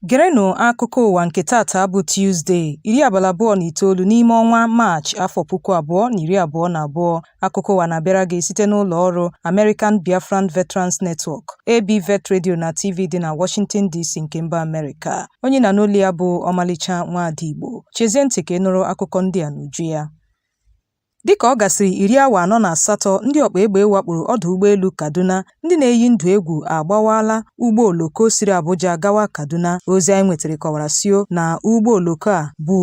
Gerenụ akụkọ ụwa nke tata bụ Tuzdee, iri abalị abụọ na itoolu n'ime ọnwa Maachị, afọ puku abụọ na iri abụọ na abụọ. Akụkọ ụwa na-abịara gị site n'ụlọ ọrụ American Biafran Veterans Network, ABVET Radio na TV dị na Washington DC nke mba Amerịka. Onye ị na-anụ olu ya bụ Ọmalịcha Nwaada Igbo. Chezie ntị ka ị nụrụ akụkọ ndị a n'uju ya. Dịka ọ gasịrị iri awa anọ na asatọ ndị ọkpa egbe wakporo ọdụ ụgbọelu Kaduna, ndị na-eyi ndụ egwu agbawaala ụgbọ oloko siri Abuja gawa Kaduna. Ozi anyị nwetara kọwara sio na ụgbọ oloko a bu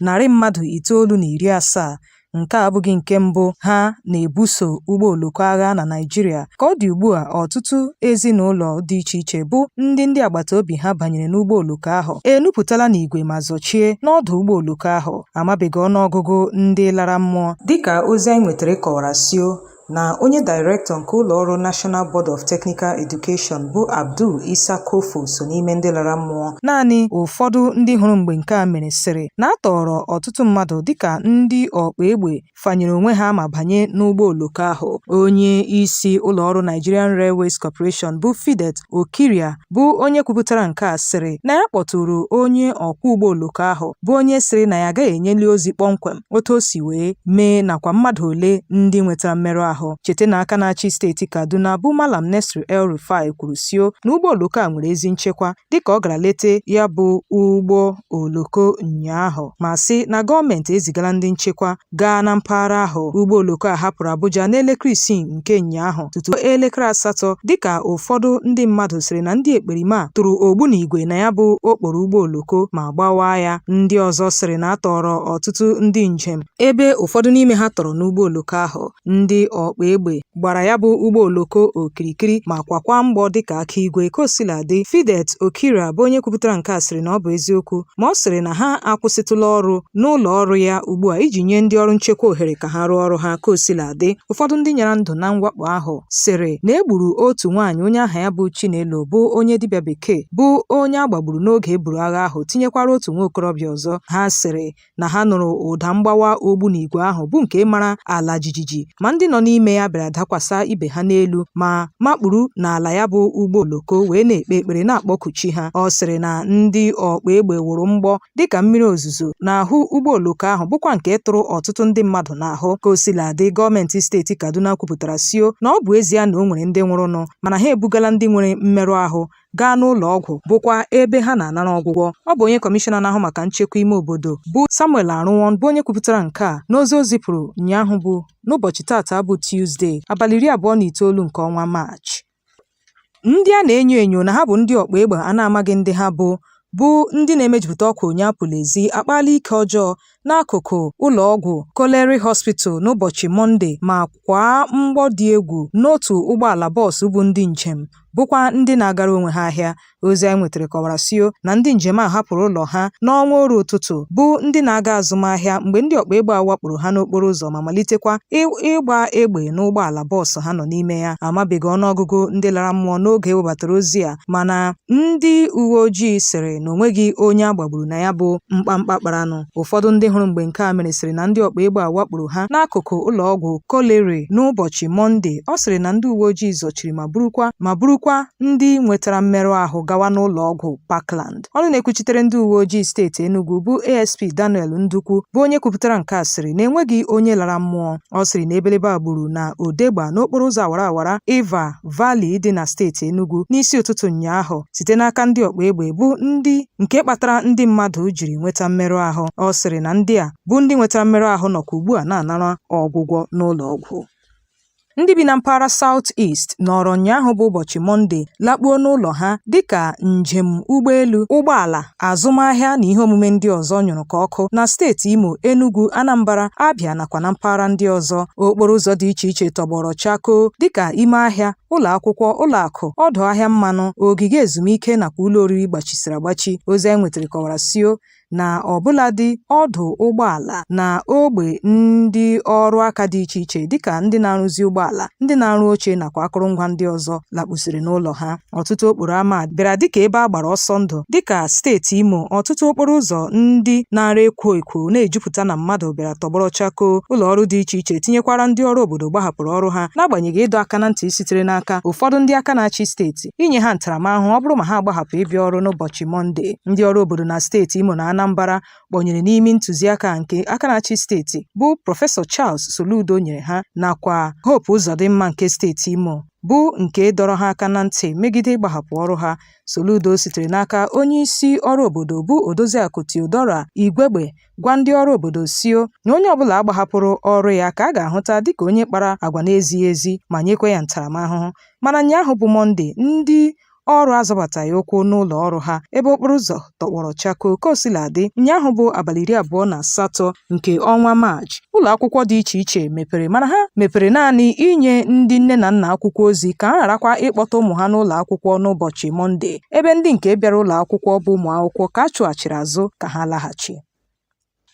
Narị mmadụ itoolu na iri asaa Nke a abụghị nke mbụ ha na-ebuso ụgbọ oloko agha na Naịjirịa. Ka ọ dị ugbu a, ọtụtụ ezinụlọ dị iche iche bụ ndị ndị agbata obi ha banyere n'ụgbọ oloko ahụ enupụtala n'igwe ma zọchie n'ọdụ ụgbọ oloko ahụ. Amabeghị ọnụọgụgụ ndị lara mmụọ. Dịka ozi anyị nwetara kọwara sio na onye dairektọ nke ụlọọrụ National Board of Technical Education bụ Abdul Isa Kofo so n'ime ndị lara mmụọ. Naanị ụfọdụ ndị hụrụ mgbe nke a mere sịrị na a tọọrọ ọtụtụ mmadụ dịka ndị ọkpa egbe fanyere onwe ha ma banye n'ụgbọ oloko ahụ. Onye isi ụlọọrụ Nigerian Railways Corporation bụ Fidet Okhiria bụ onye kwupụtara nke a sịrị na ya kpọtụrụ onye ọkwọ ụgbọ oloko ahụ bụ onye sịrị na ya agaghị enyeli ozi kpọmkwem otu o si wee mee nakwa mmadụ ole ndị nwetara mmerụ ahụ chete na aka na-achị steeti Kaduna bụ Malam Nasir El Rufai kwuru sio na ụgbọ oloko a nwere ezi nchekwa dịka ọ gara lete ya bụ ụgbọ oloko ụnyaahụ ma sị na gọọmenti ezigala ndị nchekwa gaa na mpaghara ahụ ụgbọ oloko a hapụrụ Abuja n'elekere isii nke ụnyaahụ tutu elekere asatọ dịka ụfọdụ ndị mmadụ sịrị na ndị ekperima a tụrụ ogbunigwe na ya bụ okporo ụgbọ oloko ma gbawaa ya ndị ọzọ sịrị na a tọọrọ ọtụtụ ndị njem ebe ụfọdụ n'ime ha tọrọ n'ụgbọ oloko ahụ ndị ọkpa egbe gbara ya bụ ụgbọ oloko okirikiri ma kwakwa mgbọ dịka aka igwe ka o sila dị Fidet Okhiria bụ onye kwupụtara nke a sịrị na ọ bụ eziokwu ma ọ sịrị na ha akwụsịtụla ọrụ n'ụlọ ọrụ ya ugbu a iji nye ndị ọrụ nchekwa ohere ka ha rụọ ọrụ ha ka o sila dị ụfọdụ ndị nyara ndụ na mwakpo ahụ sịrị na e gburu otu nwaanyị onye aha ya bụ Chinelo bụ onye dibịa bekee bụ onye a gbagburu n'oge e buru agha ahụ tinyekwara otu nwa okorobịa ọzọ ha sịrị na ha nụrụ ụda mgbawa ogbunigwe ahụ bụ nke mara ala jijiji ma ndị nọ n'ime ya bịara dakwasa ibe ha n'elu ma makpuru n'ala ya bụ ụgbọ oloko wee na-ekpe ekpere na-akpọku chi ha ọ sịrị na ndị ọkpa egbe wụrụ mgbọ dịka mmiri ozuzo n'ahụ ụgbọ oloko ahụ bụkwa nke tụrụ ọtụtụ ndị mmadụ n'ahụ ka o sila dị gọọmenti steeti Kaduna kwupụtara sio na ọ bụ ezie na o nwere ndị nwụrụnụ mana ha ebugala ndị nwere mmerụ ahụ gaa n'ụlọ ọgwụ bụkwa ebe ha na-anara ọgwụgwọ ọ bụ onye kọmishọna na-ahụ maka nchekwa ime obodo bụ Samuel Arụwon bụ onye kwupụtara nke a n'ozi o zipụrụ ụnyaahụ bụ n'ụbọchị tata bụ Tuzdee abalị iri abụọ na itoolu nke ọnwa Maachị ndị a na-enyo enyo na ha bụ ndị ọkpa egbe a na-amaghị ndị ha bụ bụ ndị na-emejupụta ọkwa onye apụla ezi akpaala ike ọjọọ n'akụkụ ụlọ ọgwụ Colliery Hospital n'ụbọchị Mọnde ma kwaa mgbọ dị egwu n'otu ụgbọala bọọsụ bu ndị njem bụkwa ndị na-agara onwe ha ahịa ozi anyị nwetara kọwara sio na ndị njem a hapụrụ ụlọ ha n'ọnwa oru ụtụtụ bụ ndị na-aga azụmahịa mgbe ndị ọkpa egbe a wakporo ha n'okporo ụzọ ma malitekwa ịgba egbe n'ụgbọala bọọsụ ha nọ n'ime ya amabeghị ọnụọgụgụ ndị lara mmụọ n'oge e webatara ozi a mana ndị uwe ojii sịrị na o nweghị onye a gbagburu na ya bụ mkpamkpa kparanụ ụfọdụ ndị hụrụ mgbe nke a mere sịrị na ndị ọkpa egbe a wakporo ha n'akụkụ ụlọ ọgwụ Colliery n'ụbọchị Mọnde ọ sịrị na ndị uwe ojii zọchiri ma burukwa ndị nwetara mmerụ ahụ gawa n'ụlọ ọgwụ Parkland ọnụ na-ekwuchitere ndị uwe ojii steeti Enugu bụ ASP Daniel Ndukwu bụ onye kwupụtara nke a sịrị na enweghị onye lara mmụọ ọ sịrị na ebelebe a gburu na Odegba n'okporo ụzọ awara awara Iva Valley dị na steeti Enugu n'isi ụtụtụ ụnyaahụ site n'aka ndị ọkpa egbe bụ ndị nke kpatara ndị mmadụ jiri nweta mmerụ ahụ. Ọ sịrị na ndị a bụ ndị nwetara mmerụ ahụ nọkwa ugbu a na-anara ọgwụgwọ n'ụlọ ọgwụ. Ndị bi na mpaghara South East nọrọ ụnyaahụ bụ ụbọchị Mọnde lakpuo n'ụlọ ha dịka njem ụgbọelu, ụgbọala azụmahịa na ihe omume ndị ọzọ nyụrụ ka ọkụ na steeti Imo, Enugu, Anambra, Abia nakwa na mpaghara ndị ọzọ. Okporo ụzọ dị iche iche tọgbọrọ chakoo dịka ime ahịa, ụlọ akwụkwọ, ụlọ akụ, ọdụ ahịa mmanụ, ogige ezumike nakwa ụlọ oriri gbachisiri agbachi. Ozi anyị nwetara kọwara sio na ọbụladị ọdụ ụgbọala na ogbe ndị ọrụ aka dị iche iche dịka ndị na-arụzi ụgbọala, ndị na-arụ oche nakwa akụrụngwa ndị ọzọ lakpusiri n'ụlọ ha. Ọtụtụ okporo ama bịara dịka ebe a gbara ọsọ ndụ dịka steeti Imo, ọtụtụ okporo ụzọ ndị na-ara ekwo ekwo na-ejupụta na mmadụ bịara tọgbọrọ chakoo, ụlọ ọrụ dị iche iche tinyekwara ndị ọrụ obodo gbahapụrụ ọrụ ha n'agbanyeghị ịdọ aka na ntị sitere n'aka ụfọdụ ndị aka na-achị steeti inye ha ntaramahụhụ ọ bụrụ ma ha agbahapụ ịbịa ọrụ n'ụbọchị Mọnde. Ndị ọrụ obodo na steeti Imo na Anambara kpọnyere n'imi ntụziaka nke aka na-achị steeti bụ prọfesọ Charles Soludo nyere ha nakwa Hope Uzodimma nke steeti Imo bụ nke dọrọ ha aka na ntị megide ịgbahapụ ọrụ ha. Soludo sitere n'aka onye isi ọrụ obodo bụ Odoziakụ Theodora Igwegbe gwa ndị ọrụ obodo sio na onye ọbụla gbahapụrụ ọrụ ya ka a ga-ahụta dịka onye kpara agwa na-ezighị ezi ma nyekwa ya ntaramahụhụ. Mana ụnyaahụ bụ Mọnde, ndị ọrụ azọbataghị ụkwụ n'ụlọ ọrụ ha ebe okporo ụzọ tọgbọrọ chakoo ka o sila dị ụnyaahụ bụ abalị iri abụọ na asatọ nke ọnwa maachị ụlọ akwụkwọ dị iche iche mepere mana ha mepere naanị inye ndị nne na nna akwụkwọ ozi ka ha gharakwa ịkpọta ụmụ ha n'ụlọ akwụkwọ n'ụbọchị mọnde ebe ndị nke bịara ụlọ akwụkwọ bụ ụmụ akwụkwọ ka a chụghachiri azụ ka ha laghachi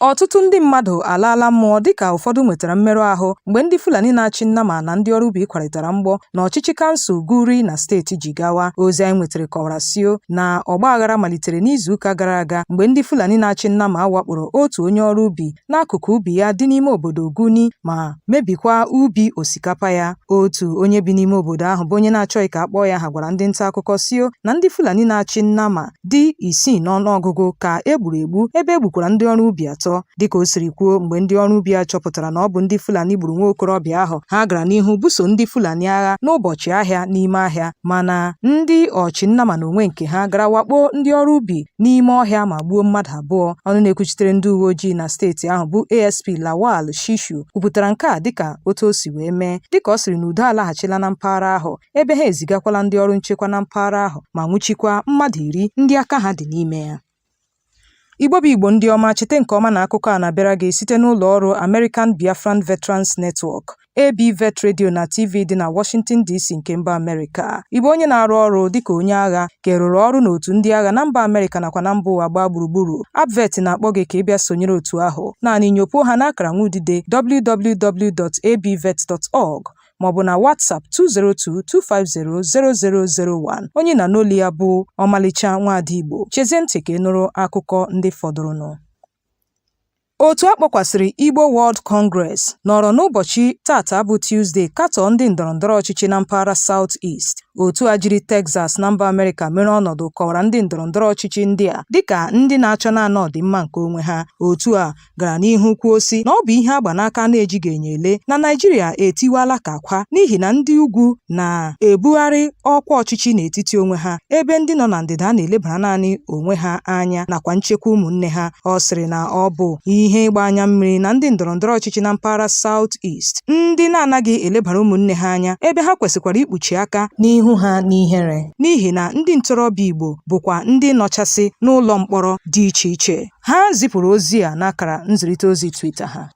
Ọtụtụ ndị mmadụ alaala mmụọ dịka ụfọdụ nwetara mmerụ ahụ mgbe ndị Fulani na-achị nnama na ndị ọrụ ubi kwarịtara mgbọ n'ọchịchị kansụl Guri na steeti Jigawa. Ozi anyị nwetara kọwara sio na ọgba aghara malitere n'izuụka gara aga mgbe ndị Fulani na-achị nnama wakporo otu onye ọrụ ubi n'akụkụ ubi ya dị n'ime obodo Guni ma mebikwa ubi osikapa ya. Otu onye bi n'ime obodo ahụ bụ onye na-achọghị ka a kpọọ ya aha gwara ndị nta akụkọ sio na ndị Fulani na-achị nnama dị isii n'ọnụọgụgụ ka e gburu egbu ebe e gbukwara ndị ọrụ ubi atọ dịka o siri kwuo mgbe ndị ọrụ ubi a chọpụtara na ọ bụ ndị Fulani gburu nwa okorobịa ahụ ha gara n'ihu buso ndị Fulani agha n'ụbọchị ahịa n'ime ahịa mana ndị ọchị nnama n'onwe nke ha gara wakpo ndị ọrụ ubi n'ime ọhịa ma gbuo mmadụ abụọ ọnụ na-ekwuchitere ndị uwe ojii na steeti ahụ bụ ASP Lawal Shishu kwupụtara nke a dịka otu o si wee mee dịka ọ sịrị na udo alaghachila na mpaghara ahụ ebe ha ezigakwala ndị ọrụ nchekwa na mpaghara ahụ ma nwụchikwa mmadụ iri ndị aka ha dị n'ime ya. Igbo bụ Igbo ndị ọma chete nke ọma na akụkọ a na-abịara gị site n'ụlọ ọrụ American Biafran Veterans Network ABVET Radio na TV dị na Washington DC nke mba Amerịka. Ị bụ onye na-arụ ọrụ dịka onye agha ka ị rụrụ ọrụ n'otu ndị agha na mba Amerịka nakwa na mba ụwa gbaa gburugburu, ABVET na-akpọ gị ka ị bịa sonyere otu ahụ. Naanị nyopuo ha n'akara nwa udide www.abvet.org maọbụ na WhatsApp 202-250-0001 onye ị na-anụ olu ya bụ ọmalịcha nwaada Igbo chezie ntị ka ị nụrụ akụkọ ndị fọdụrụnụ otu a kpọkwasịrị Igbo World Congress nọrọ n'ụbọchị tata bụ Tuesday katọọ ndị ndọrọndọrọ ọchịchị na mpaghara South East otu a jiri Texas na mba Amerịka mere ọnọdụ kọwara ndị ndọrọndọrọ ọchịchị ndị a dịka ndị na-achọ naanị ọdịmma nke onwe ha otu a gara n'ihu kwuo sị na ọ bụ ihe a gba n'aka a na-ejighị enyo ele na Naịjirịa etiwaala ka akwa n'ihi na ndị ugwu na-ebugharị ọkwa ọchịchị n'etiti onwe ha ebe ndị nọ na ndịda na-elebara naanị onwe ha anya nakwa nchekwa ụmụnne ha ọ sịrị na ọ bụ ihe ịgba anya mmiri na ndị ndọrọndọrọ ọchịchị na mpaghara South East ndị na-anaghị elebara ụmụnne ha anya ebe ha kwesịkwara ikpuchi aka n'ihu ha n'ihere n'ihi na ndị ntorobịa Igbo bụkwa ndị nọchasị n'ụlọ mkpọrọ dị iche iche Ha zipụrụ ozi a n'akara nzirịta ozi Twitter ha.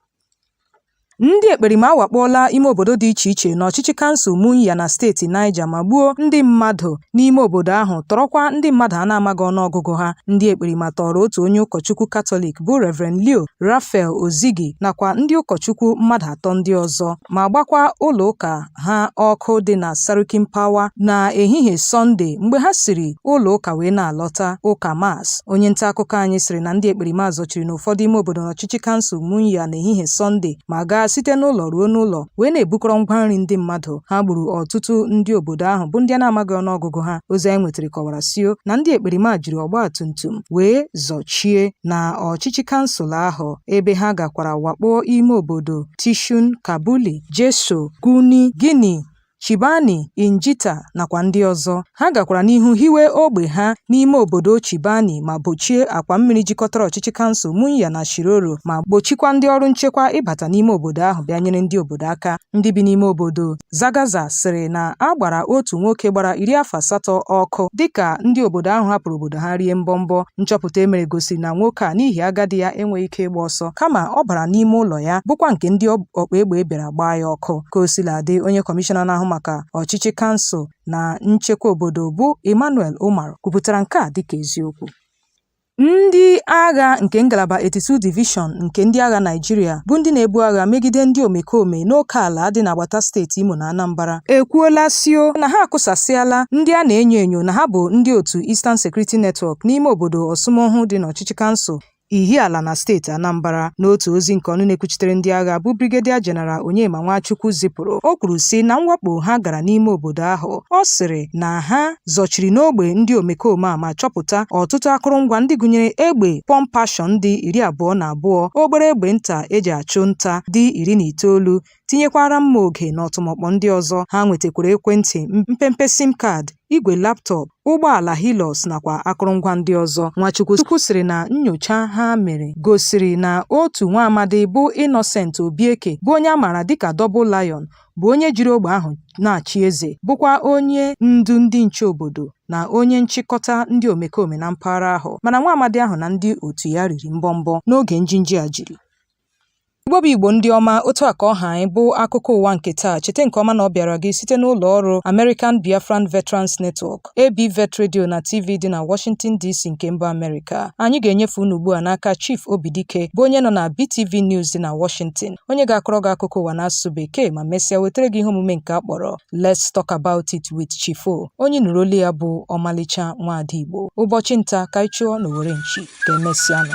Ndị ekperima awakpoola ime obodo dị iche iche n'ọchịchị kansụl Munya na steeti Niger ma gbuo ndị mmadụ n'ime obodo ahụ tọrọkwa ndị mmadụ a na-amaghị ọnụọgụgụ ha. Ndị ekperima tọọrọ otu onye ụkọchukwu Katọlik bụ Rev. Leo Raphael Ozigi nakwa ndị ụkọchukwu mmadụ atọ ndị ọzọ ma gbakwa ụlọụka ha ọkụ dị na Sarkin Pawa na ehihie Sọnde mgbe ha siri ụlọ ụka wee na-alọta ụka Mass onye nta akụkọ anyị sịrị na ndị ekperima zọchiri n'ụfọdụ ime obodo n'ọchịchị kansụl Munya na ehihie Sọnde ma gaa site n'ụlọ ruo n'ụlọ wee na-ebukọrọ ngwa nri ndị mmadụ ha gburu ọtụtụ ndị obodo ahụ bụ ndị a na-amaghị ọnụọgụgụ ha ozi anyị nwetara kọwara sio na ndị ekperima jiri ọgba tum tum wee zọchie na ọchịchị kansụl ahụ ebe ha gakwara wakpoo ime obodo Tishun Kabuli Jeso, Guni, Gini, Chibani, Injita nakwa ndị ọzọ. Ha gakwara n'ihu hiwe ogbe ha n'ime obodo Chibani ma gbochie akwa mmiri jikọtara ọchịchị kansụl Munya na Shiroro ma gbochikwa ndị ọrụ nchekwa ịbata n'ime obodo ahụ bịa nyere ndị obodo aka. Ndị bi n'ime obodo Zagaza sịrị na a gbara otu nwoke gbara iri afọ asatọ ọkụ dịka ndị obodo ahụ hapụrụ obodo ha rie mbọmbọ. Nchọpụta e mere gosiri na nwoke a n'ihi agadi ya enweghị ike ịgba ọsọ kama ọ bara n'ime ụlọ ya bụkwa nke ndị ọkpa egbe bịara gbaa ya ọkụ ka o sila dị onye kọmishọna na-ahụ maka ọchịchị kansụl na nchekwa obodo bụ Emmanuel Umar kwupụtara nke a dịka eziokwu Ndị agha nke Ngalaba 82 Division nke ndị agha Naịjirịa bụ ndị na-ebu agha megide ndị omekome n'okeala dị n'agbata steeti Imo na Anambra ekwuola sio na ha akụsasịala ndị a na-enyo enyo na ha bụ ndị otu Eastern Security Network n'ime obodo Orsumoghu dị n'ọchịchị kansụl Ihiala na steeti Anambra. N'otu ozi nke ọnụ na-ekwuchitere ndị agha bụ Brigadier General Onyema Nwachukwu zipụrụ, o kwuru sị na mwakpo ha gara n'ime obodo ahụ. Ọ sịrị na ha zọchiri n'ogbe ndị omekome a ma chọpụta ọtụtụ akụrụngwa ndị gụnyere egbe pump action dị iri abụọ na abụọ, obere egbe nta e ji achụ nta dị iri na itoolu, tinyekwara mma oge na ọtụmọkpọ ndị ọzọ ha nwetakwara ekwentị mpempe sim card igwe laptop ụgbọala Hilux nakwa akụrụngwa ndị ọzọ Nwachukwu Chukwu sịrị na nyocha ha mere gosiri na otu nwa amadi bụ Innocent Obieke bụ onye a maara dịka Double Lion bụ onye jiri ogbe ahụ na-achị eze bụkwa onye ndu ndị nche obodo na onye nchịkọta ndị omekome na mpaghara ahụ mana nwa amadi ahụ na ndị otu ya riri mbọmbọ n'oge njinji a jiri Igbo bụ Igbo ndị ọma otu a ka ọ ha anyị bụ akụkọ ụwa nke taa cheta nke ọma na ọ bịara gị site n'ụlọ ọrụ American Biafran Veterans Network ABVET Radio na TV dị na Washington DC nke mba Amerịka anyị ga-enyefe unu ugbu a n'aka Chief Obidike bụ onye nọ na BTV News dị na Washington onye ga-akọrọ gị akụkọ ụwa n'asụsụ bekee ma mesịa wetara gị ihe omume nke a kpọrọ Let's Talk About It with Chief O onye nụrụ olu ya bụ ọmalịcha nwaada Igbo ụbọchị nta ka anyị chụọ n'owere nchi ka e mesịanụ